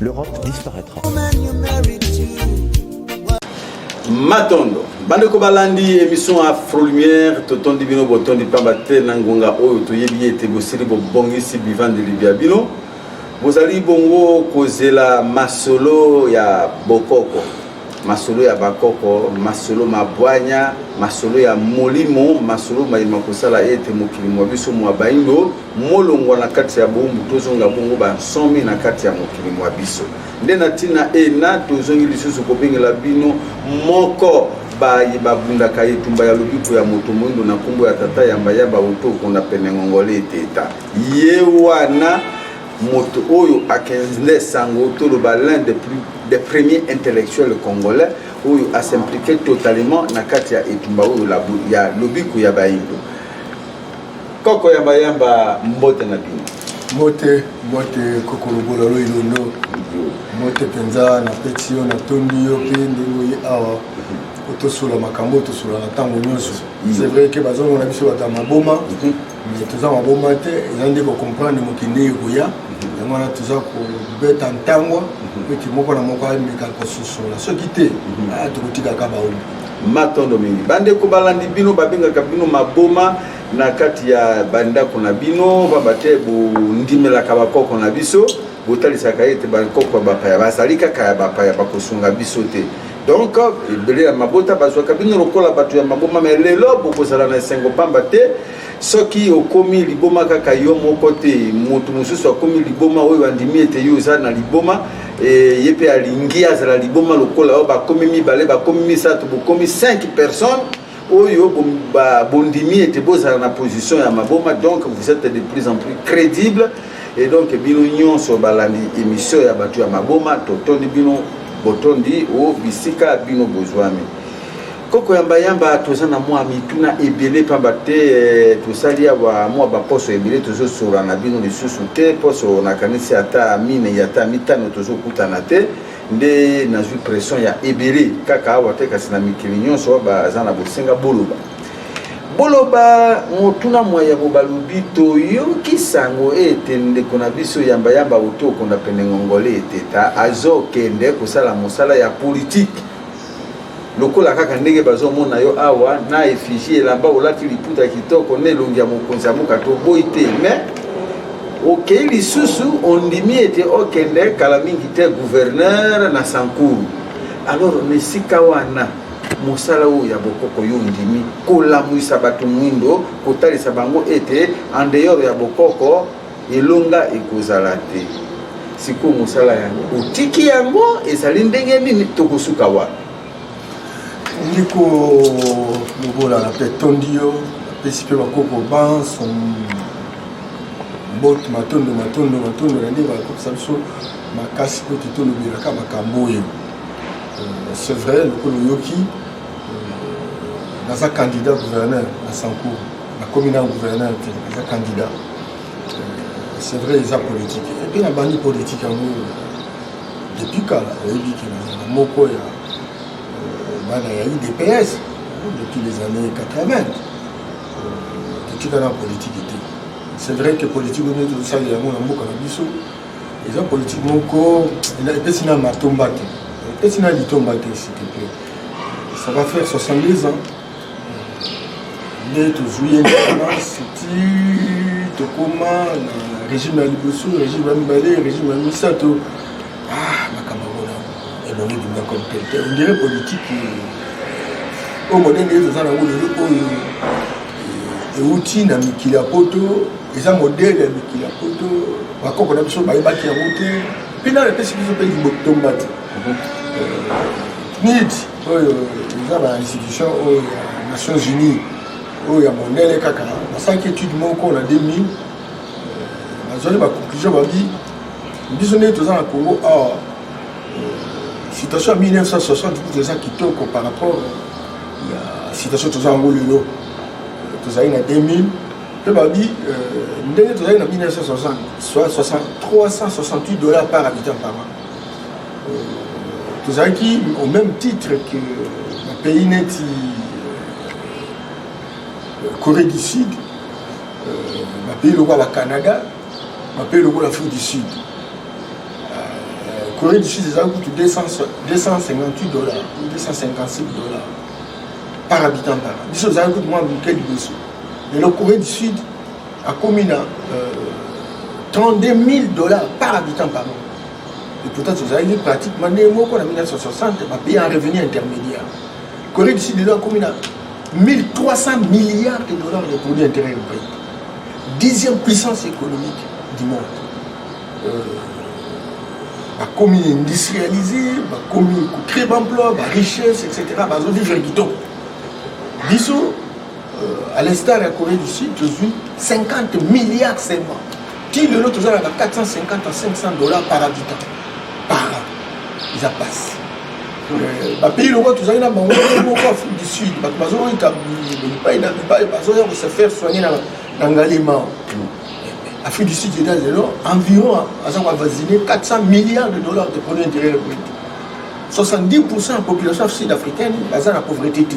L'Europe disparaîtra. matondo bandeko balandi émission afro lumière totondi bino botondi mpamba te na ngonga oyo toyebi ete bosili bobongisi bivandeli bya bino bozali bongo kozela masolo ya bokoko Masolo ya bakoko, masolo ma bwanya, masolo ya molimo, masolo maye makosala ete mokili mwa biso mwa baindo molongwa na kati ya boumbu, tozonga bongo bansomi na kati ya mokili mwa biso. Nde na ntina ena tozongi lisusu kobengela bino moko baye babundaka etumba ya lobiko ya moto moindo na nkombo ya tata yamba yamba oto okona pene ngongole eteta ye wana moto oyo akenzle sango toloba l'un des plus des premiers intellectuels congolais oyo asimplike totalement na kati ya etumba oyo ya lobiko ya bayindo koko ya bayamba mbote na bino mbote mbote kokolobola loilondo mbote mpenza napeti yo natondi yo mpe ndenge oye awa otosola makambo oyo tosolaka ntango nyonso c'est vrai ke bazongo na biso bato ya maboma mhm. mais toza maboma te eza nde kocomprendre mokili ndenge ekoya yango wana toza kobeta ntangwa ete moko na moko ameka kososola soki te ah, tokotikaka baomi matondo mingi bandeko balandi bino babengaka bino maboma na kati ya bandako na bino pamba te bondimelaka bakoko na biso botalisaka ete bakoko ya bapaya bazali kaka ya bapaya bakosunga biso te donc ebele ya mabota bazwaka bino lokola bato ya maboma me lelo bokozala na esengo mpamba te soki okomi liboma kaka yo moko te moto mosusu akomi liboma oyo andimi ete yo oza na liboma e, ye mpe alingi azala liboma lokola oyo bakomi mibale bakomi misato bokomi 5 personnes oyo bondimi ete bozala na position ya maboma donc vous êtes de plus en plus crédible et donc bino nyonso balandi émission ya bato ya maboma totondi bino botondi o bisika bino bozwami koko yambayamba toza na mwa mituna ebele mpamba te eh, tosali awa mwa baposo ebele tozosola na bino lisusu te poso nakanisi ata mine ya ata mitano tozokutana te nde nazwi pression ya ebele kaka awa te kasi na mikili nyonso baza na bosenga boloba boloba motuna mwa yango balobi toyoki sango ete ndeko na biso yambayamba uti okonda pene ngongole eteta azokende kosala mosala ya politike lokola kaka ndenge bazomona yo awa na effigie elamba olati liputa ya kitoko na elongi ya mokonzi ya mboka toboyi te mais okei lisusu ondimi ete okende kala mingi te gouverneur na sankuru alors na esika wana mosala oyo ya bokoko yo ondimi kolamwisa bato mwindo kotalisa bango ete en dehors ya bokoko elonga ekozala te sikoyo mosala yango otiki yango ezali ndenge nini tokosuka wapi ndeko lobola na mpe tondi yo napesi mpe bakoko banso mbote matondo matondo matondo na nde bakopesa biso makasi mpo te tolobelaka makambo oyo euh, c'est vrai lokola oyoki euh, naza candidat gouverneur na sancour nakomi na gouverneur te eza candidat euh, c'est vrai eza politique epe nabandi politique yango depuis kala oyebi ke nazala moko ya euh, bana ya idps depuis les années 80 euh, totika na politique te c'est vrai que politique oyo neti tosali yango na mboka na biso eza politique moko epesi na matomba te epesi na litomba te s'il te plaît ça va faire 70 ans nde tozwi ye independance ti tokoma na régime ya liboso régime ya mibale régime ya misato ah, makambo wana elongi ebima comme pelte ondire politike oyo modele ye toza nango lelo oyo euti na mikili ya poto eza modele ya mikili ya poto bakoko na biso bayebaki yango te mpe nano epesi biso mpe libotomba te euh, nidi oyo eza ba institution oyo ya nations unies oyo ya mondele kaka basalaki étude moko na 2000 bazwaki baconclusion babi biso ndenge toza na congo awa situation ya 1960 kutu eza kitoko par rapport ya situation toza yango lelo tozali na 2000 mpe babi euh, ndenge tozali na 1960 soit 368 dollars par habitant par an tozalaki au même titre que na pays neti euh, corée du sud euh, na pays lokola canada na pays lokola afrique du sud euh, corée du sud ezalaki kutu 258 dollars 255 dollars par habitant par an biso ezalaki kutu mwa moke liboso lelo corée du sud akomi na 32 000 dollars par habitant par an Et pourtant, tozalaki pratiquement nde moko na 1960 bapaye en revenu intermédiaire corée du sud lelo akomi na 1300 milliards de dollars de produit intérieur brut dixième puissance économique du monde euh, bakomi industrialise bakomi kocree baemploi barichesse etc bazovivre kitoko biso euh, à l'instar ya corée du sud tozwi 50 milliards seulement ti lelo toza na ba 450 à 500 dollars par habitant par an eza pasi euh, bapays loko tozali na bango moko afrique du sud bato bazoyika bipai na bipai bazoya kose faire soigner na ngalema afrique du sud eza lelo environ aza koavasine 400 milliards de dollars de produit intérieur brut 70 pourcent ya population sud africaine baza na pauvreté te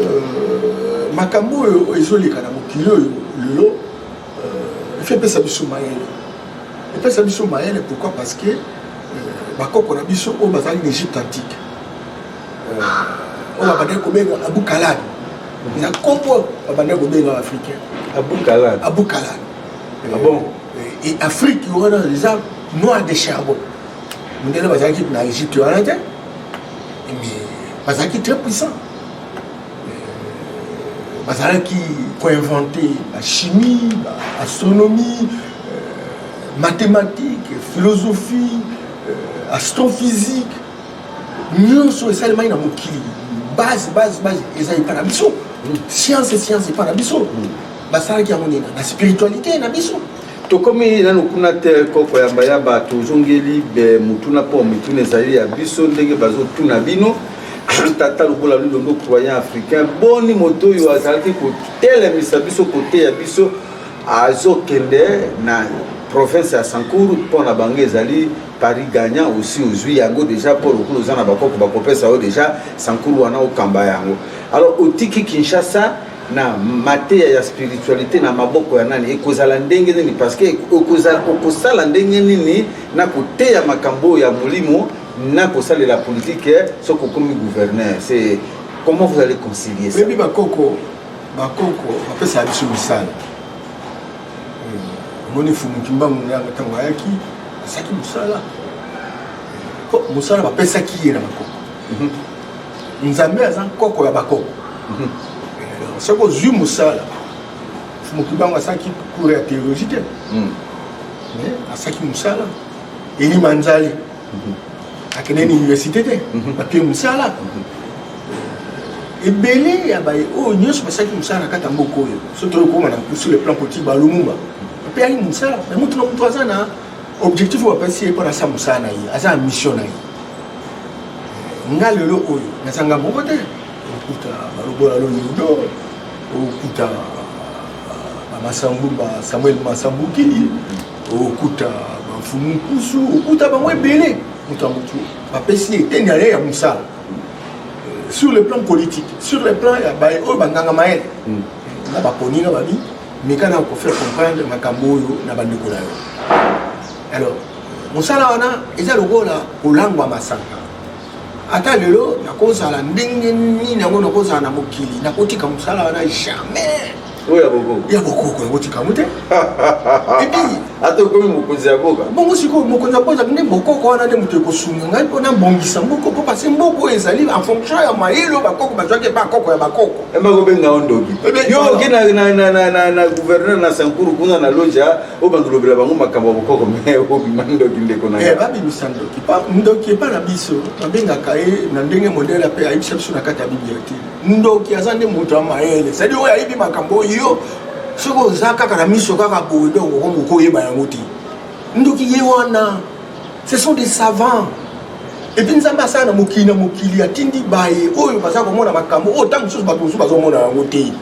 Euh, makambo oyo ezoleka na mokili oyo lelo euh, efe epesa biso mayele epesa biso mayele pourquoi parce que euh, bakoko na biso oyo bazali na egypte antique oyo babandaki kobenga abukalani na nkombo babandaki kobenga africain abukalani abukalani ah bon et afrique wana eza noir de charbon ndele bazalaki na egypte wana te mais bazalaki très puissant bazalaki koinvente bachimie baastronomie euh, mathématique philosophie euh, astrophysique nyonso esalemaki na mokili base base base eza epai na biso science science epai na biso basalaki yango nini na spiritualité na biso Tokomi nanu kuna te koko yamba yamba tozongeli be mutuna po mituna ezali ya biso ndenge bazotuna bino tata lokola lulongo croyant africain boni moto oyo azalaki kotelemisa biso koteya biso azokende na province ya sankour mpo na bango ezali paris gagnant osi ozwi yango deja mpo lokola oza na bakoko bakopesa yo deja sankour wana okamba yango alors otiki kinshasa na mateya ya spiritualité na maboko ya nani ekozala ndenge nini parce que okozala okosala ndenge nini na koteya makambo ya molimo na kosalela politike soki okomi gouverneur c'est comment vous allez concilier ça bebi bakoko bakoko bapesaka biso misala hmm. omoni fumuki mbangu na yango ntango ayaki asaki mosala mosala bapesaki ye na bakoko mhm. nzambe aza nkoko ya bakoko mhm. eh, soki ozwi mosala mokibango asalaki cour ya théologie te mhm. eh, asalaki mosala elima nzali mhm. akende na université te bapie mosala ebele ya baye oyo nyonso basalaki mosala na kati ya mboka oyo soki toyokoma na sur le plan politique balumumba bapeyaki mosala me motu na motu aza na objectif oyo bapesi ye mpo na sa mosala na ye aza na mission na ye nga lelo oyo nazanga moko te okuta balobola lolindo okuta bamasambuba samuel masambukili okuta bamfumu nkusu okuta bango ebele moto ya motu bapesi eteni ya ye ya mosala euh, sur le plan politique sur le plan ya baye oyo banganga mayele hmm. na baponi na babi meka na ko faire comprendre makambo oyo na bandeko na yo alors mosala wana eza lokola kolangwa masanga ata lelo nakozala ndenge nini yango nakozala na mokili nakotika mosala wana jamais oyo ya bokoko ya bokoko yango tikango te ata okomi mokonzi ya boka bongo sikoyo mokonzi ya boka nde bokoko wana nde moto ekosunga ngai mpo nabongisa mboko mpo pase mboko oyo ezali en fonction ya mayele oyo bakoko bazwaki epa koko ya bakoko bakobenga yo ndoki yo oke na gouverneur na sankuru kuna na loja oyo bandolobela bango makambo ya bokoko me obima ndoki ndeko na eh, babimisa ndoki ndoki epa na biso babengaka ye na ndenge modele mpe ayebisa biso na kati ya biblia te ndoki aza nde moto ya mayele sadi oyo ayebi makambo oyo soki oza kaka na miso kaka boye donc okomokoyeba yango te ndoki ye wana ce sont des savants epuis nzambe asala na mokili na mokili atindi baye oyo baza komona makambo oyo ntango mosusu bato mosusu bazomona yango te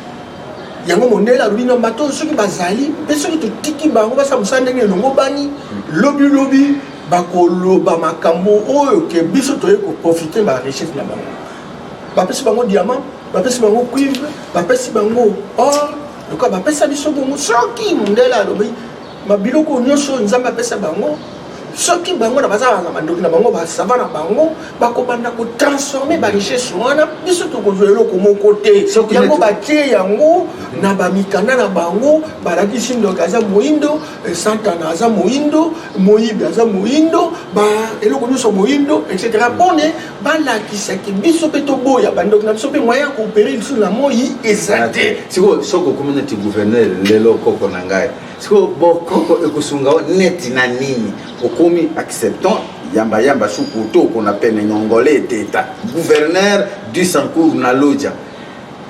yango mondele alobi na bato oyo soki bazali mpe soki totiki bango basala mosala ndenge elongobani lobilobi bakoloba makambo oyo ke biso toyei koprofite ba richesse na bango bapesi bango diamant bapesi bango cuivre bapesi bango or lokola bapesa biso bongo soki mondele alobi ma biloko nyonso oyo nzambe apesa bango soki bango na bazalaka na bandoki na bango basava na bango bakobanda kotransforme barichesse wana biso tokozwa eloko moko te yango batie yango na bamikanda na bango balakisi ndoki aza moindo eh, santana aza moindo moyibi aza moindo eloko nyonso moindo etc mpone balakisaki biso mpe toboya bandoki na biso mpe moyen ya koopere lisusu na moi eza te sikoyo soki okomi neti gouverneur lelo koko na ngai sikoyo bokoko ekosunga yo neti na nini okomi acceptant yambayamba suku to okona pene nyongole eteta gouverneur du sancour na lodja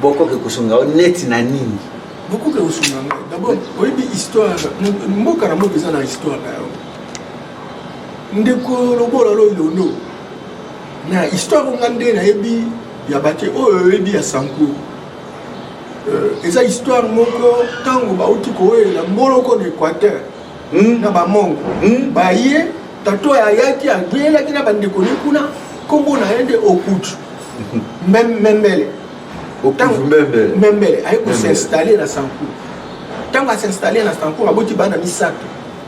bokoko ekosunga yo neti na nini bokoki kosunga ngai dabord oyebi histoire mboka na mboka eza na histoire na yango ndeko lobola loilondo na histoire nga nde nayebi ya bake oyo oyebi ya sancour Euh, eza histoire moko ntango bauti kowelela mboloko na équateur hmm. na bamongo hmm. baye tato ayaki abelaki na bandeko ne kuna nkombo na ye nde okutu memele memele aye kosinstalle na sancour ntango asinstalle na sancour aboti bana misato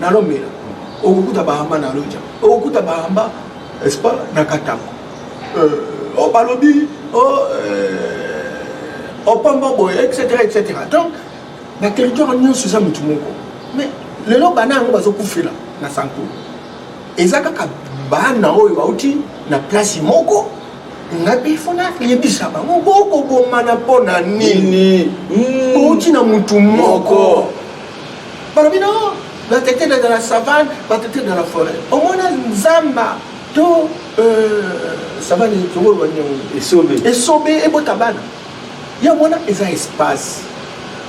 na lombela okokuta bahamba na loja okokuta bahamba espa na katanga euh, o oh, balobi o oh, euh, opamba oh, boye etc etc donc na territoire nyonso eza motu moko mais lelo bana yango bazokufela na sanko eza kaka bana oyo bauti na place moko nga mpe fo nayebisa bango bokobomana mpo na nini bouti na motu moko balobi no bato ete dans la savane bato ete dans la forêt omona nzamba to euh, savane tongolwa nyango esobe esobe ebota bana yango wana eza espace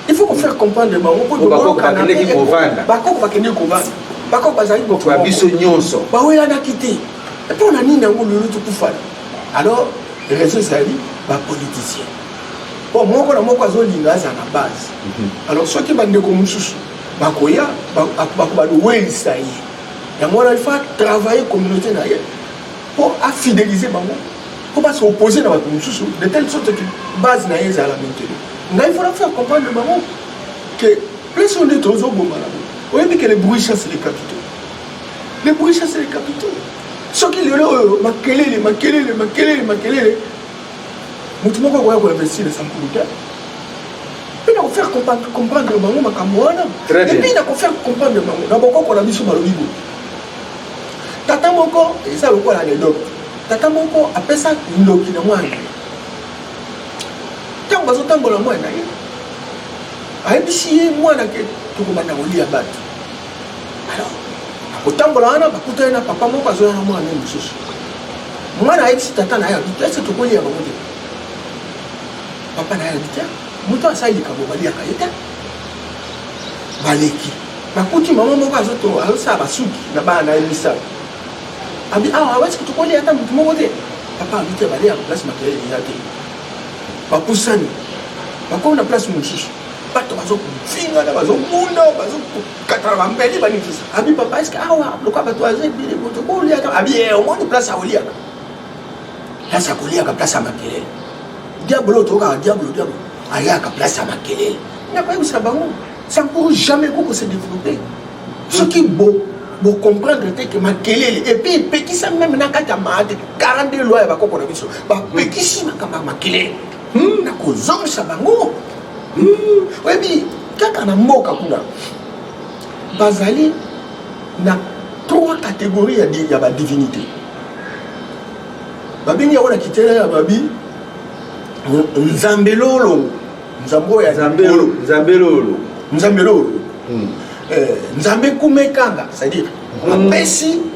il faut kofaire comprendre bango mpo toboyokanabakoko bakende kovanda bakoko bazali kokoa biso nyonso bawelanaki te mpo na nini yango lelo tokufana alors raison ezali bapoliticien po moko na moko azolinga azala na base mhm. alors soki bandeko mosusu bakoya bakobadowelisa ye yango wana ifa travaille communauté na ye po afidelize bango po base opose na bato mosusu de telle sorte que base na ye ezala la maintenu ngai fona faire comprendre bango que place oyo nde tozoboma na bango oyebi ke le bruit chasse les capitaux le bruit chasse les capitaux soki lelo oyo makelele makelele makelele makelele motu moko akoya koinvestir na sankulu te mpe na kofaire comprendre bango makambo wana epuis na kofaire comprendre bango na bokoko na biso balobi boye tata moko eza lokola anecdote tata moko apesa ndoki na mwana ntango bazotambola mwana ye ayebisi ye mwana ke tokobanda kolia bato alors akotambola wana bakuta ye na papa moko azoya na mwana ye mosusu mwana ayebisi tata na ye abi te ese tokolia bango te papa na ye abi te moto asali likambo baliaka ye te baleki bakuti mama moko azosala basuki na bana na ye misala abi awa awesi tokolia ata motu moko te papa abi te baliaka place makelele eza te bapusani bakomi na place mosusu bato bazofingana bazobunda bazokatana bambeli banikisa abi papa eske awa lokola bato aza ebele moto boliaka abi eh, omoni place ya koliaka place ya koliaka place ya makelele diabolo otokaka diabolo diabolo ayaka place ya makelele nakoyebisa bango ça ne pourra jamais koko se développer soki bo bocomprendre te ke makelele epuis epekisa meme na kati ya maate 42 loi ya bakoko na biso bapekisi makambo ya makelele hmm, na kozongisa bango hmm, oyebi kaka na mboka kuna bazali na trois catégorie ya badivinité babengi yango na kitela ya babi nzambe lolo nzambe oyo ya nzambe lolo nzambe lolo hmm. eh, nzambe kumekanga c'est-à-dire hmm. apesi mm.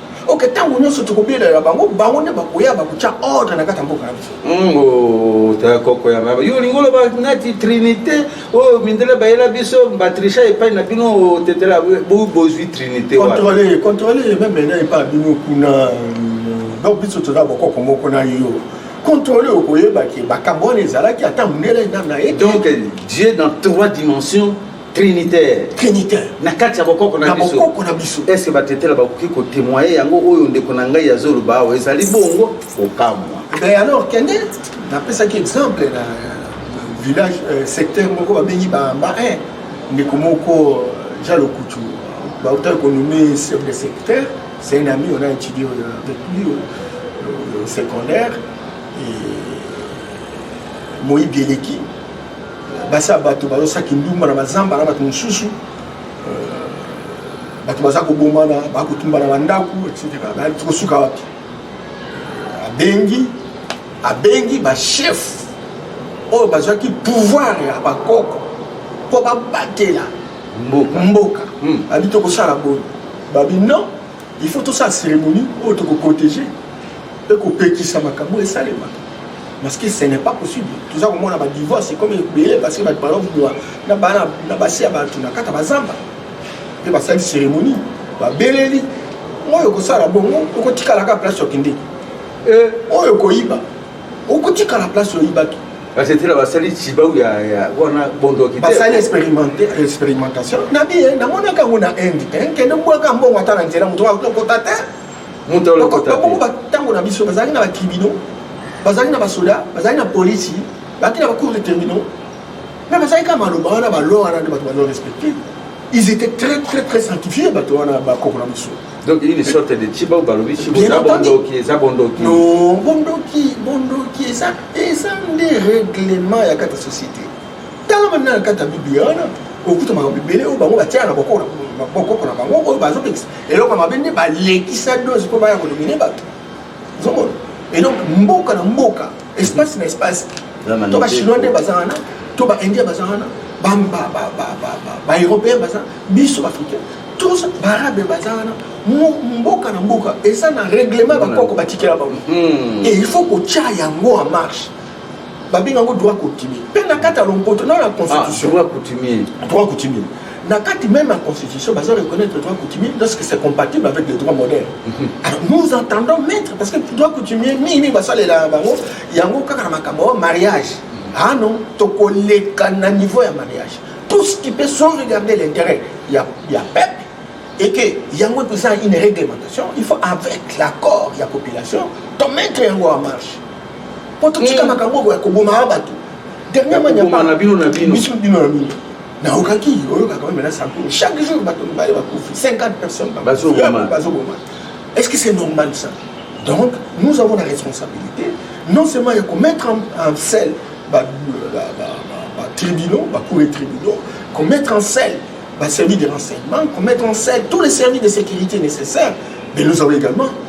ok ntango nyonso tokobelela bango bango nde bakoya bakotya ordre na kati ya mboka na biso ngo ta koko ya baba yo olingi oloba nati trinité oyo mindele bayela biso batricha epai na bino otetela bozwi trinité controle controle meme na epai bino kuna euh, donc biso toza bokoko moko na yo contrôle okoyeba ke makambo wana ezalaki ata mondele nana ye donc dieu dans trois dimensions trinitaire trinitaire na kati ya bokoko na biso bokoko na biso est ce que batetela bakoki kotemoye yango oyo ndeko na ngai azoloba awa ezali bongo kokamwa mais alors kende napesaki exemple na village euh, secteur moko babengi bamba 1 ndeko moko euh, ja lokutu bautaki konomme sur le secteur c'est un ami on a étudié euh, avec lui au secondaire et moyibi eleki basi ya bato bazosala kindumba na bazamba na bato mosusu euh, bato baza kobomana bakotumba na bandako etc tokosuka wapi euh, abengi abengi bachef oyo bazwaki pouvoir ya bakoko mpo babatela mboka, mboka. Hmm. abi tokosala boye babi non il faut tosala cérémonie oyo tokoprotege mpe kopekisa makambo esalemaka parce que ce n'est pas possible toza komona ba divorce comme ebele parce que bato balobwa na bana na basi ya bato na kata bazamba mpe basali cérémonie babeleli oyo okosala bongo okotikalaka place okende eh. oyo okoyiba okotikala place oyibaki basetela basali sibau ya wana bondoki basali expérimentation na biye namonaka yango na inde te eh, kende bwaka mbongo ata na nzela moto akokota te moto alokota te ba tango na biso bazali na ba tribunaux bazali na ba soda bazali na police bazali na ba cours de terminaux mais bazali kaka maloba wana ba loi wana nde bato bazo respecter ils étaient très très très sanctifiés bato wana bakoko na biso donc une sorte de chiba ou balobi chibo eza bondoki eza bondoki non bondoki bondoki eza eza nde règlement ya kata société tala banda na kati ya biblia wana okuta makambo ebele oyo bango batiaka na bokoko na bango oyo bazopekisa eloko ya mabe nde balekisa dose mpo baya kolomine bato ozomona et donc mboka na mboka espace na espace to bachinois nde baza wana to baindien baza wana baeuropéen baza biso baafricain tous baarabe baza wana mboka na mboka eza na règlement bakoko batikela bango hmm. et il faut kotya yango en marche babenga yango droit coutumier mpe na kati ya lompoto na na constitution ah, droit coutumier na kati même ya constitution baza reconnaître droit coutumier lorsque c'est compatible avec le droit moderne mhm. alors nous entendons maître parce que droit coutumier mingi mingi basalela bango yango kaka na makambo oyo mariage mhm. ah non tokoleka na niveau ya mariage tout ce qui peut sans regarder l'intérêt ya, ya peuple et que yango epesa une réglementation il faut avec l'accord ya population tomettre yango en marche po totika makambo oyo ya kobomaka bato dernièrement nyama na bino na bino biso bino na bino naokaki oyokaka oyo mena sanko chaque jour bato mibale bakufi 50 personnes bazoboma est ce que c'est normal ça donc nous avons la responsabilité non seulement ya komettre en selle batribunaux bacour et tribunaux komettre en selle baservice de renseignement komettre en selle tous les services de sécurité nécessaires mais nous avons également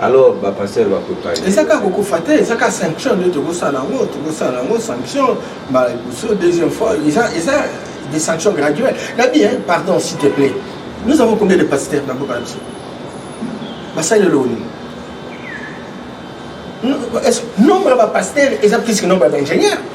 alors ba pasteur ba koka eza kaka kokufa te eza kaka sanction nde tokosala yango tokosala yango sanction mbala liboso deuxième fois eza eza des sanctions graduelles nabi hein pardon s'il te plaît nous avons combien de pasteurs na mboka na biso basali eloko nini nombre ya bapasteur eza plus que nombre ya baingénieur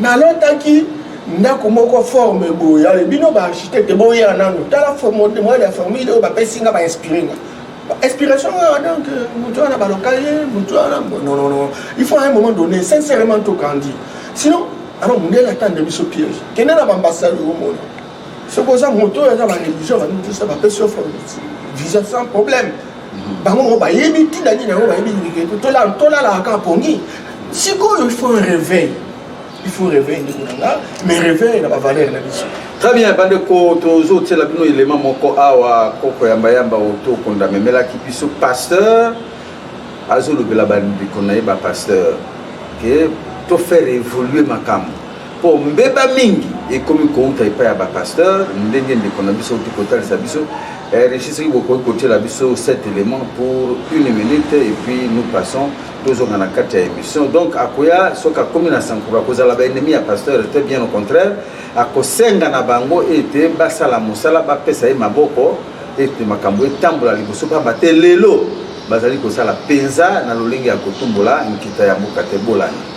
nalotaki ndako moko forme boye ale bino ba architecte boya nano tala modèle ya formule oyo bapesi nga bainspire nga inspiration wana donc euh, moto wana baloka ye moto wana nonono il faut à un moment donné sincèrement tokandi sinon alors mondele atande biso piège kende na bambasade omona soki oza moto oyo aza bareligion banutusa bapesi yo forme visa sans problème bango moko bayebi ntina nini yango bayebi nini tolalaka kaka pongi sikoyo il faut un réveil il faut réveil ndeko na nga mais réveil na bavaleur na biso très bien bandeko tozotiela bino elema moko awa koko yambayamba oyo tokonda memelaki biso pasteur azolobela bandeko na ye bapasteur ke tofaire évoluer makambo mpo mbeba mingi ekomi kouta epai ya bapasteur ndenge ndeko na biso oki kotalisa biso eh, richi soki bokoki kotyela biso cet élément pour une minute et puis nous passons tozonga na kati ya émission donc akoya soki akomi na sankuru akozala baennemi ya pasteur te bien au contraire akosenga na bango ete basala mosala bapesa ye maboko ete makambo etambola liboso mpamba te lelo bazali kosala mpenza na lolenge ya kotumbola nkita ya mboka te bolani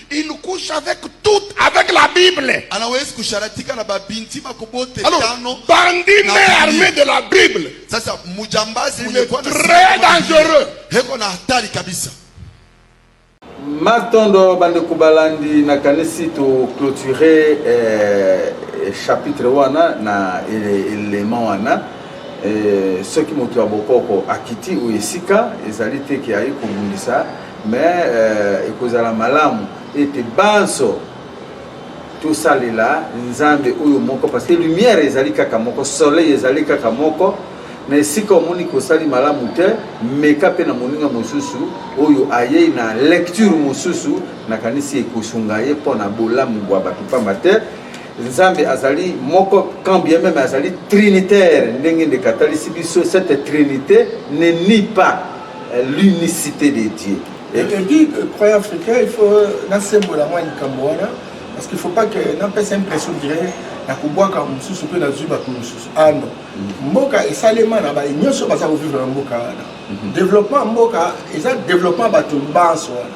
Il couche avec tout, avec la Bible. Alors, bandit mais armé de la Bible. Ça, c'est Il est très dangereux. matondo bandeko balandi nakanisi toclôture eh, chapitre wana na élément wana eh, soki moto ya bokoko akiti oyo esika ezali te ke aye kobundisa Mais euh, ekozala malamu ete banso tosalela nzambe oyo moko parce que lumière ezali kaka moko soleil ezali kaka moko na esika omoni kosali malamu te meka mpe na moninga mosusu oyo ayei na lecture mosusu nakanisi ekosunga ye mpo na bolamu bwa bato mpamba te Nzambe azali moko quand bien même azali trinitaire ndenge ndeko atalisi biso cette trinité ne nie pas euh, l'unicité de Dieu. Et te dis que croyant africain il faut nasembola mwa likambo wana parce qu'il faut pas que napesa impression dire nakobwaka mosusu mpe nazwi bato mosusu ah non mm. mboka esalema na baye nyonso baza kovivre na mboka wana mm-hmm. développement mboka eza développement bato banso wana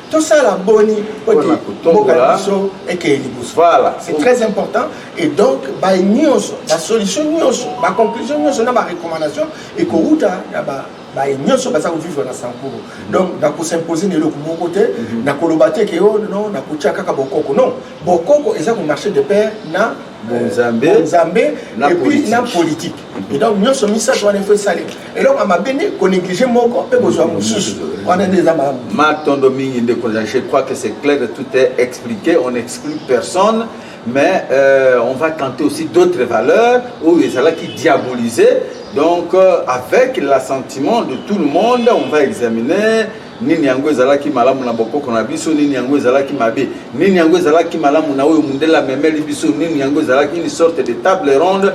tosala boni oti mboka na biso ekeye liboso voilà c'est très important et donc baye nyonso basolution nyonso baconclusion nyonso na barecommandation ekowuta na ba baye nyonso baza kovivre na sankuru donc nakosimposer na eloko moko te mhm. nakoloba te ke o oh, non nakotia kaka bokoko non bokoko eza komarche de père na bonzambe bonzambe et puis na politique et donc nyonso misato wana efo esalema eloko ya mabe nde konéglige moko mpe kozwa mosusu wana nde eza malamu matondo mingi ndeko je crois que c'est clair tout est expliqué on exclut personne mais euh, on va tenter aussi d'autres valeurs oyo ezalaki diabolisé donc euh, avec l'assentiment de tout le monde on va examiner nini yango ezalaki malamu na bokoko na biso nini yango ezalaki mabe nini yango ezalaki malamu na oyo mundele amemeli biso nini yango ezalaki une sorte de table ronde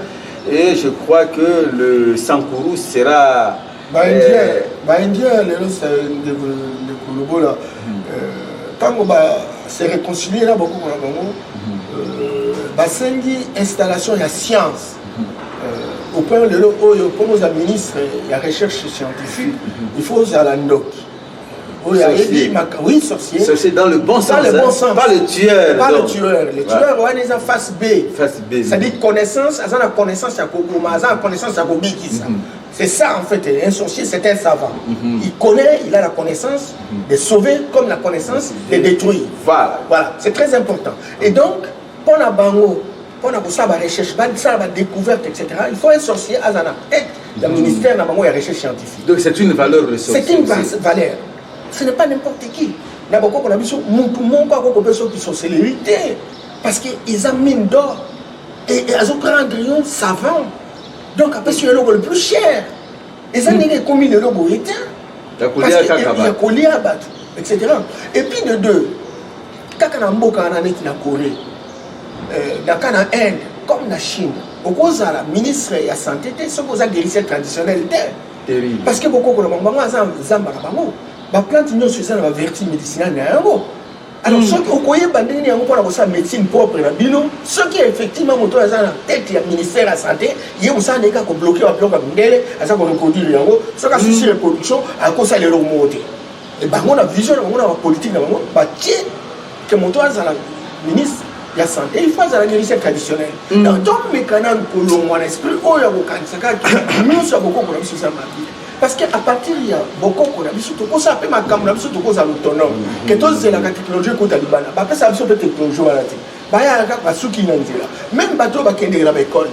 et je crois que le sankuru sera euh, baindien lelo ndeko lobola hmm. euh, ntango ba se réconcilier na bokoko na bango hmm. euh, basengi installation ya science au point lelo oyo mpo oza ministre ya recherche scientifique il faut ozala ndoki oyo ayebi oui sorcier sorcier dans le bon sens dans le bon sens pas le tueur pas le tueur le tueur wana eza face B face B c'est à dire connaissance aza na connaissance ya kokoma aza na connaissance ya kobikisa mhm. C'est ça en fait, un sorcier c'est un savant. Mm -hmm. Il connaît, il a la connaissance mm -hmm. de sauver comme la connaissance de détruire. Voilà. Voilà, c'est très important. Et donc, Mpo na bango, mpo na kosala ba recherche, basala ba decouverte etc. Il faut un sorcier aza na tête ya mm. ministère na bango ya recherche scientifique. Donc c'est une valeur le sorcier. C'est une valeur. Ce n'est pas n'importe qui. Na bokoko na biso mutu moko akoko peso ki sorcellerie te parce que ils ont mine d'or et, et azo prendre un savant. Donc apesi eloko le plus cher. eza ndenge ekomi lelo boye te ya kolia bato etc et puis de deux kaka na mboka wana neti na corée euh, naka na inde comme na chine okozala ministre ya santé te soki oza guérisseur traditionnel te parce que bokokola bango bango aza zamba na bango baplante nyonso eza na baverti médicinale na yango alors mm. soki okoyeba ndenge yango mpona kosala médecine propre na bino soki effectivement moto oyo aza na tete ya ministère ya santé ye mosala na ye kaka kobloke babiloko ya mindele aza koreproduire yango soki asusi mm. reproduction akosala eloko moko te e bango na vision na bango na bapolitike na bango batie ke moto azala ministre ya santé il faut azala guérisseur traditionnel mm. donc tomekana kolongwa na esprit oyo ya kokanisa kaka nyonso ya kokokola biso eza mabe parce que à partir ya bokoko na biso tokosala mpe makambo na biso tokozala autonome mhm. ke tozelaka technologie ekota libana bapesaka biso mpe technologie wana te bayaka kaka basuki na nzela meme bato oyo bakendeke na baekole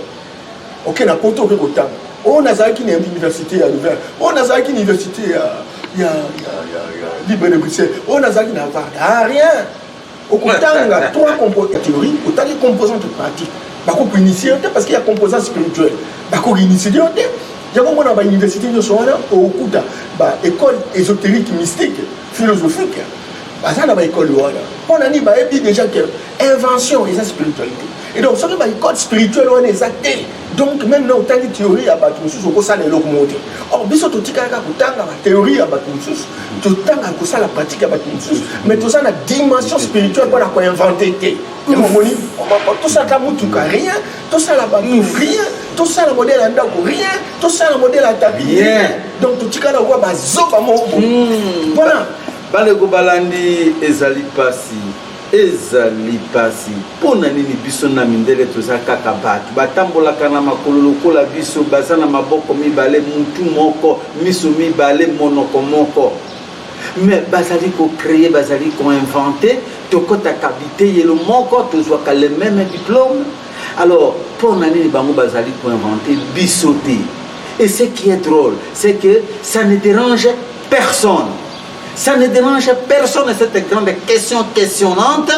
oke na poto oke kotanga oyo nazalaki na université ya louvain oyo nazalaki na université ya libre de bruxelles oyo nazalaki na varda rien okotanga trois compo ya théorie otangi composante pratique bakoki initie yo te parce que ya composant spirituel bakoki initie yo te yango mona bauniversité nyonso wana okuta baécole ésotérique mystique philosophique baza na baécole wana mpo na nini bayebi déjà que invention eza spiritualité et donc soki baécole spirituelle wana eza te donc meme na otali theorie ya bato mosusu okosala eloko moko te or biso totikalaka kotanga batheorie ya bato mosusu totanga kosala pratique ya bato mosusu mais toza na dimension spirituelle mpona koinvente te omoni tosalaka motuka rien tosala bato mm. rien tosala modele ya ndako rien tosala modele ya tapi rien donc totikala okoa bazoba moko mpona mm. baleko balandi ezali mpasi Ezali pasi pona nini biso na mindele toza kaka batu batambolaka na makolo lokola biso baza na maboko mibale mutu moko miso mibale monoko moko mais bazali ko cree bazali ko invente tokotaka biteyelo moko tozwaka le meme diplome alors pona nini bango bazali ko invente biso te et ce qui est drole c'est que ça ne derange personne Ça ne dérange personne cette grande question questionnante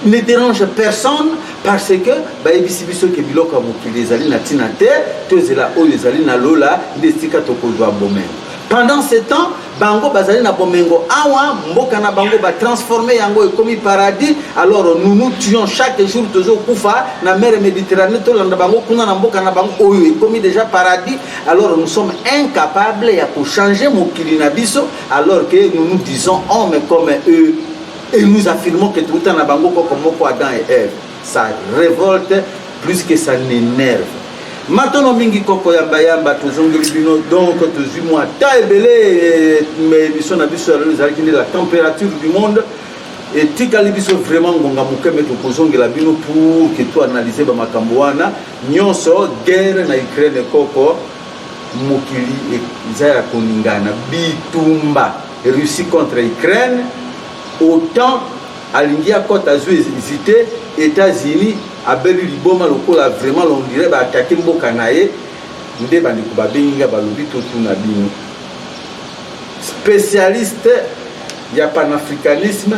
ne dérange personne parce que bayebisi biso ke biloko ya mokili ezali na ntina te tozela oyo ezali na lola nde esika tokozwa bomengo pendant ce temps bango bazali na bomengo awa mboka na bango batransforme yango ekomi paradis alors nous nous tuons chaque jour tozokufa na mer méditerranée tolanda bango kuna na mboka na bango oyo ekomi déjà paradis alors nous sommes incapables ya kochanger mokili na biso alors que nous nous disons hommes comme eux et nous affirmons que touta na bango koko moko adam et eve ça révolte plus que ça n'énerve matono mingi koko yambayamba tozongeli bino donc tozwi mwa ta ebele émission na biso ya lelo ezalaki nde la température du monde etikali biso vraiment ngonga moke me tokozongela bino pour que toanalyse bamakambo wana Nionso guerre na Ukraine koko mokili eza ya koningana bitumba Russie contre Ukraine autant alingi akota azwi ezite États-Unis abeli liboma lokola vraiment londire ba attaquer mboka na ye nde bandeko babengi nga balobi totuna bino spécialiste ya panafricanisme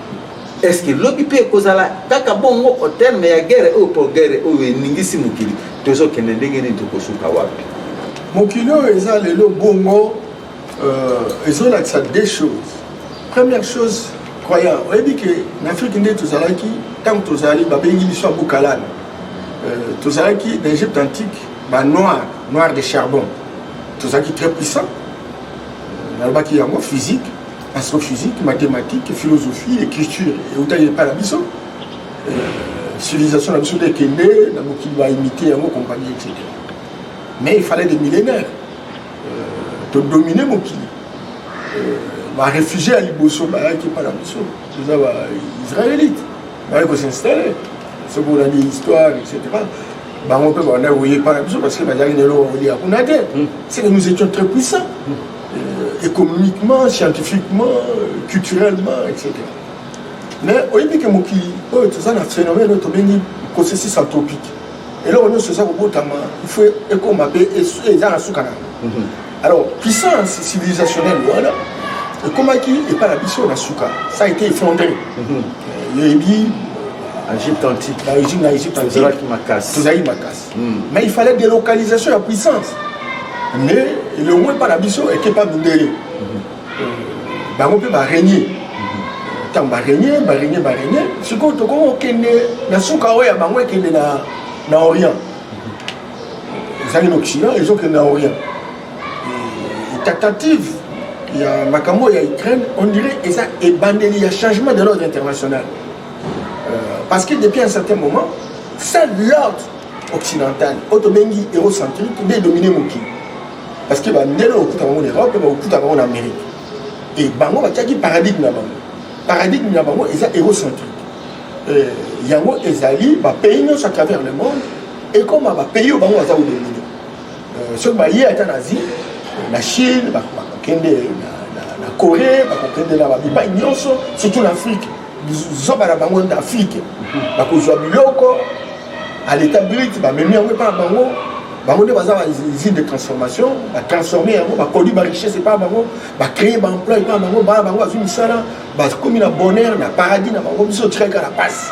est ce que lobi mpe ekozala kaka bongo au terme ya guerre oyo mpo guerre oyo eningisi mokili tozokende ndenge nini tokosuka wapi mokili oyo eza lelo bongo euh, ezolakisa deux choses première chose croyant oyebi ke na afrike nde tozalaki ntango tozali babengi biso ya bukalana euh, tozalaki na egypte antique banoir noir de charbon tozalaki très puissant nalobaki yango physique astrophysique mathématique philosophie écriture eutaki epai na biso civilisation na biso nde ekende na mokili baimite yango compagnie etc mais il fallait des millénaires todomine mokili baréfugie ya liboso bayaki epai na biso toza baisraélite baye ko s'installer soki olandi histoire etc bango mpe banda koye pana biso parce que bazalaki na eloko kolia kuna te hmm. c'est que nous étions très puissants hmm. euh, économiquement scientifiquement culturellement etc mais oyebi ke mokili oyo toza na phénomène oyo tobengi processus anthropique eloko nyonso eza kobotama il faut ekoma mpe eza na suka na yango hmm. alors puissance civilisationnelle wana ekomaki epai na biso na suka ça a été effondré mhm. oyebi Égypte antique. Dans l'Égypte, dans l'Égypte antique. Tozala qui makasse. Tozali makasse. Hmm. Mais il fallait des localisations la puissance. Mais le moins pas la biso et qui pas mindele. Bah on peut bah régner. Tant bah régner, bah régner, bah régner. Ce qu'on te connaît, on connaît. Na souka oya bah on connaît na na Orient. ezali na occident ezokende na orient tentative ya makambo ya ukraine on dirait eza ebandeli ya changement de l'ordre international euh, parce que depuis un certain moment seul l'ordre occidental oyo tobengi eurocentrique nde edomine mokili parce que bandele bakokuta bango na europe bakokuta bango na amérique e bango batiaki paradigme na bango paradigme na bango eza eurocentrique euh, yango ezali bapays nyonso à travers le monde ekoma ba pays oyo bango baza kolelino euh, soki baye ata na asie na chine bakokende na corée bakokende na babipai nyonso surtout na afrique zoba na bango na afrique bakozwa biloko à l'état brut bamemi yango epa na bango bango nde baza bausine de transformation batransforme yango baproduit barichesse epa bango bacree baemploi epa bango bana bango bazwi misala bakomi na bonheur na paradis na bango biso otikali kaka na pasi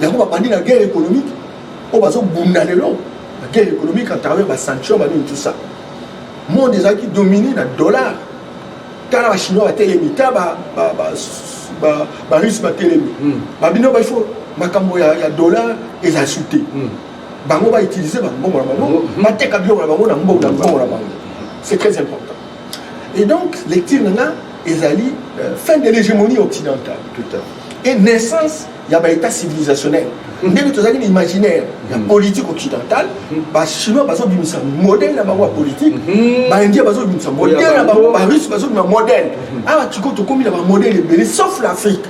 yango babandi na guerre économique oyo bazobunda lelo na guerre économique à travers basanction banini tout ça monde ezalaki domine na dollar tala bachinois batelemi ta barusse batelemi hmm. babino baifo makambo ya dollar eza su te hmm. bango bautilize bambongo na bango hmm. bateka biloko na bango na mbongo na mbongo na bango c'est très important et donc lecture na nga ezali euh, fin de l'hégémonie occidentale et naissance ya ba état civilisationnel ndenge tozali na imaginaire ya mm. politique occidentale mm. bachinois bazobimisa modèle na bango ya politique mm. baindien bazobimisa modèle na bango barusse bazobima modèle awa ah, sikoyo tokomi na bamodèle ebele sauf l'afrique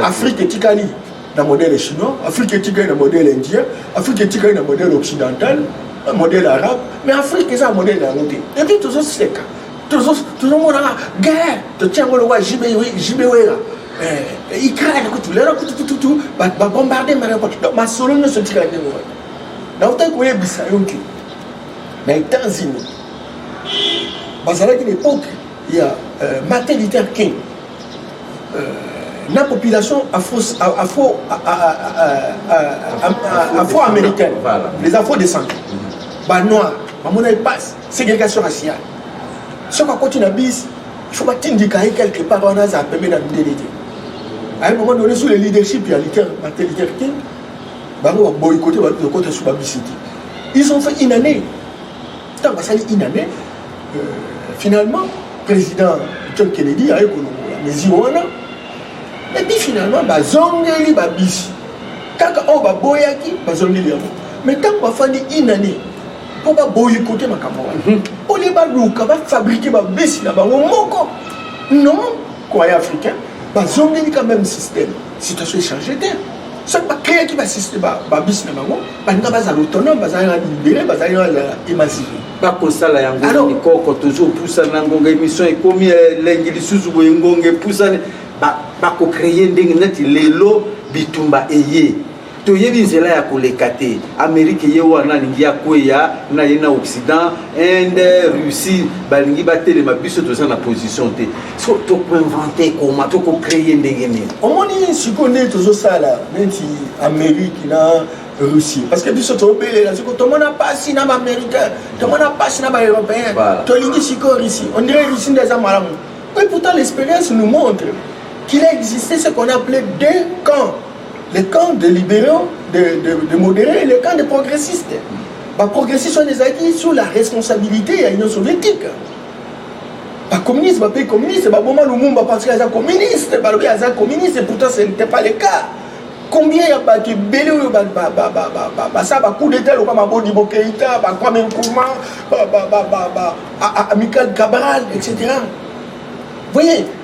afrique etikali na modèle chinois afrique etikali na modèle indien afrique etikali na modèle occidental modèle arabe mais afrique eza ya modèle na yango te epuis tozoseka tozomonaka guerre totia yango lokwa jbwera eh, Ukraine kutu lelo kutu kutu kutu ba bombarder Mariupol donc masolo nyonso tika na ndenge wana na utaki koyebisa yo ke na États-Unis bazalaki na époque ya euh, Martin Luther King euh, na population afro-américaine les afro-descendants banoir bamonaki mpasi ségrégation raciale soki akoti na bisi il faut batindika ye quelque part wana azala pembe na mindele te à un moment donné sous le leadership ya liter mate liter te bango baboyikote baluki kokota su babisi te ils ont fait une année ntango basali une année euh, finalement président john kennedy aye kolongola mesure wana epuis finalement bazongeli babisi kaka oyo baboyaki bazongeli yango mais ntango bafandi une année mpo baboyikote makambo wana olie baluka bafabrike babesi na bango moko non koya africain bazongeli quand même système situation echange te soki bakreaki babisi na bango balinga bazala autonome bazali na libere bazali bazala émancipe bakosala yango mikoko toujours pusana ngonga émission ekomi elengi eh, lisusu boye ngonga epusani bakocreye ndenge neti lelo bitumba eye toyebi nzela ya koleka te amerike ye wana alingi akweya na ye na occident inde russie balingi batelema biso toza na position te so tokoinvente koma tokocreye ndenge nini omoni sikoyo nde tozosala neti amerike na russie parce que biso tobelela siko tomona mpasi na baaméricain tomona mpasi na baeuropéen tolingi sikoyo russie on dirait russie nde eza malamu et pourtant l'expérience nous montre qu'il a existé ce qu'on appelait deux camps le camp de libéraux de, de, de modéré le camp de progressiste baprogressiste wana ezalaki sur la responsabilité ya union soviétique bacommuniste bapayi communiste baboma lumumba parce que aza communiste balobi aza communiste et pourtant ce n'était pas le cas combien ya bato ebele oyo basala bacoup d'état loka mabodi bokeita bakwame nkuma amical cabral etc voyez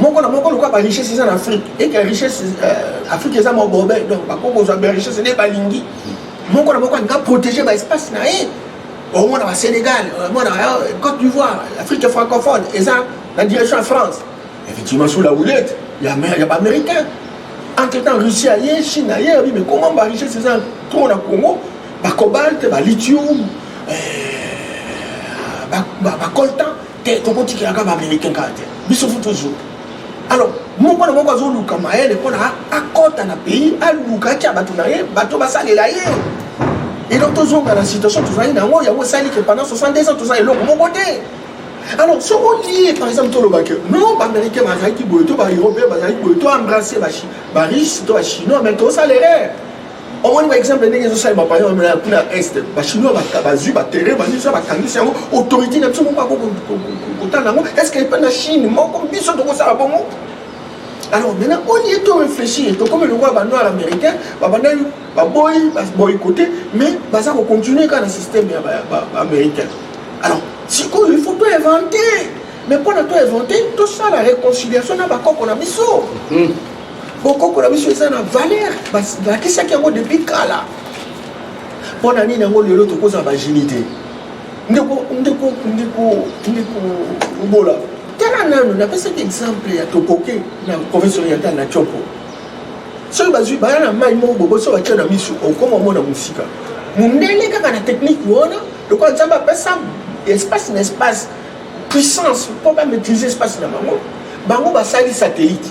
moko na moko lokola barichesse eza na afrique eke richesse euh, afrique eza mobobe donc bakoki kozwa barichesse nde balingi moko na moko alinga protege baespace na ye omona ba sénégal omona euh, côte d'ivoire afrique francophone eza na direction ya france effectivement sous la houlette ya baaméricain entre temps russie aye chine aye abi mais comment barichesse eza trop na congo bacobalte balithium euh, bacoltan te tokotikela kaka baaméricain kaka te biso fu toujours alors moko na moko azoluka mayele mpona akɔta na pays aluka atya bato na ye bato basalela ye et donc tozonga na situation tozali na yango yango esali ke pendant 62 ans toza eloko moko te alors soki olie par exemple toloba ke non baaméricain bazalaki boye to baeuropéen bazalaki boye to embrasse bariche to bachinois mais tosala erreur omoni baexemple ndenge ezosalema payona kuna est bachinois bazwi baterrain baniso bakangisi yango autorité na biso moko akokotala yango est ce que epa na chine moko biso tokosala bongo alors maintenant au lieu to réfléchir tokomi lokola banoir américain babandaki baboyi baboycote mais baza kocontinue kaka na système ya baaméricain alors sikoyo il faut to inventer mais mpo na to inventer tosala réconciliation na bakoko na biso hmm. bokoko na biso eza na valeur balakisaki yango depuis kala mpo na nini yango lelo tokozala bagenie te ndeko ndeko ndeko ndeko obola tala nano napesaki exemple ya tokoke na province orientale na tiopo soki bazwi baya na mai moko bobo so batya na miso okoma omona mosika mondele kaka na technique wana lokola nzambe apesa espace na espace puissance mpo bamaîtrise espace na bango bango basali satellite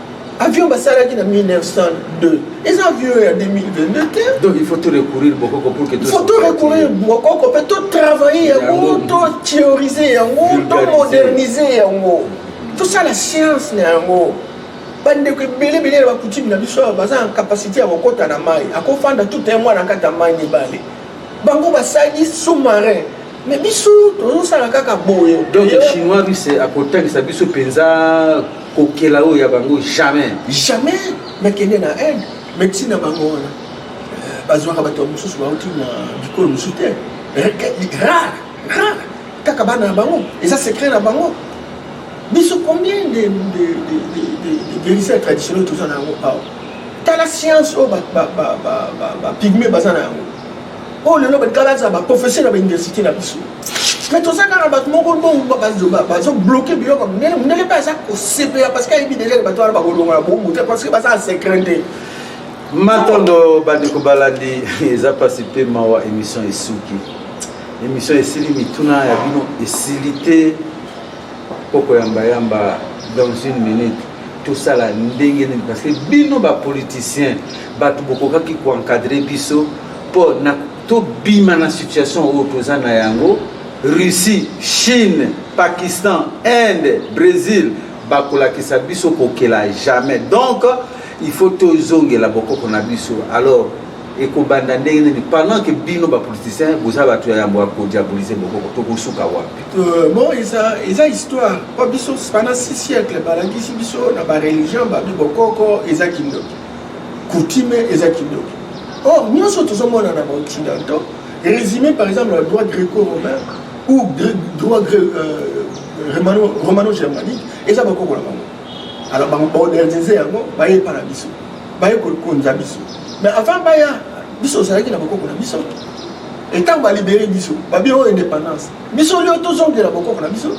avion basalaki na 1902 eza avion ya 2022 te donc il faut to recourir bokoko pour que faut to recourir bokoko mpe to travailler yango to théoriser yango to moderniser yango tosala science na yango bandeko ebele ebele ya bakutime na biso awa baza na kapasité ya kokɔta na mai akofanda tout un mwana kati ya mai mibale bango basali sous-marin Mais biso tozosala kaka boye donc chinois russe akotangisa biso mpenza kokela oyo ya bango jamais jamais mekende na inde médecine na bango wana euh, bazwaka bato ya mosusu bauti na bikolo mosusu te rare rare kaka bana na bango eza secret na bango biso combien de guérisseurs traditionnel toza na yango awa tala science oyo bapigme baza na yango oyo lelo batikala za baprofesseur na bauniversité na biso mais toza kaka na bato moko bazobloke biloko monene monene mpe aza kosepela parce que ayebi deja bato wana bakolongola bongo te parce que baza na secret te matondo bandeko balandi eza mpasi mpe mawa émission esuki émission esili mituna ya bino esili te Poko yamba yamba dans une minute tosala ndenge nini parce que bino ba politiciens bato bokokaki koencadre biso mpo na tobima na situation oyo toza na yango russie chine pakistan inde brésil bakolakisa biso kokela jamais donc il faut tozongela bokoko na biso alors ekobanda ndenge nini pendant que bino bapoliticien boza bato ya yambo ya kodiabolise bokoko tokosuka wapi euh, bon eza, eza histoire mpo biso pendant 6 siècle balakisi biso na bareligion babi bokoko eza kindoki coutume eza kindoki or nyonso tozomona na baoccidentaux résumé par exemple na droit gréco-romain ou droit euh, romano-germanique eza bokoko na bango alors ba moderniser yango baye epa na biso baye kokonza biso mais avant baya biso ozalaki na bokoko na biso etango balibere biso babi oyo indépendance biso lio tozongela bokoko na biso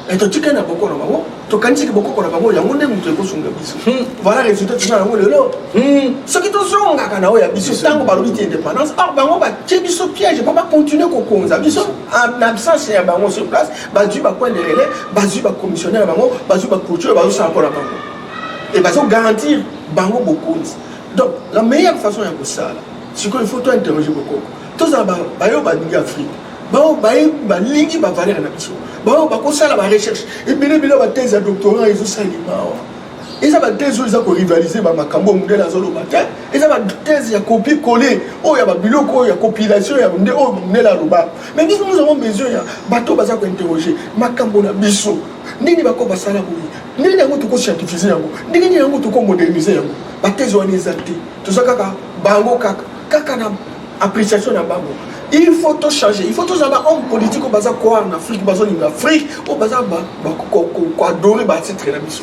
e totikali na bokoko na bango tokanisaki bokoko na bango yango nde moto ekosunga biso hmm. voilà résultat toza yango lelo hmm. soki tozongaka na oyo ya biso ntango balobi ti indépendance or bango batie biso piège mpo bacontinue kokonza biso en absence ya bango sur place bazwi ba point de relais bazwi ba commissionnaire bango bazwi ba clôture bazosala mpo na bango e bazogarantir bango bokonzi donc la meilleure façon ya kosala sikoyo il faut tointerroge bokoko tozala bayo balingi afrique baoyo balingi bavalere na biso baoyo bakosala barecherche ebele ebele bathèse ya doctorat ezosalima awa eza bathèse oyo eza korivalise bamakambo oyo mondele azoloba te eza bathèse ya kopie kole oyo ya babiloko oyo ya compilation ya nde oyo mondele aloba Mais nous, nous avons besoin ya bato baza kointerroger makambo na biso nini bako basala boye ndenge yango tokoscientifize yango ndenge nini yango tokomodernise yango bateze wana eza te toza kaka bango kaka kaka na appréciation na bango il faut to changer il faut tozala ba homme politique oyo baza koar na afrique bazolinga afrique oyo baza koadore baatitre na biso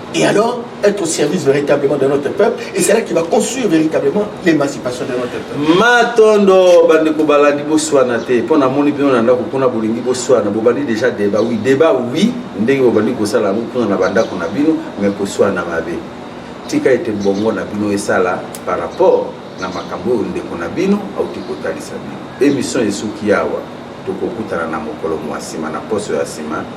et alors être au service véritablement de notre peuple et c'est là qu'il va construire véritablement l'émancipation de notre peuple matondo bandeko balandi boswana te mpo namoni bino na ndako kuna bolingi boswana bobandi déjà débat oui débat oui ndenge bobandi kosala yango kuna na bandako na bino mais koswana mabe tika ete bongo na bino esala par rapport na makambo oyo ndeko na bino auti kotalisa bino émission esuki awa tokokutana na mokolo mwa nsima na poso ya nsima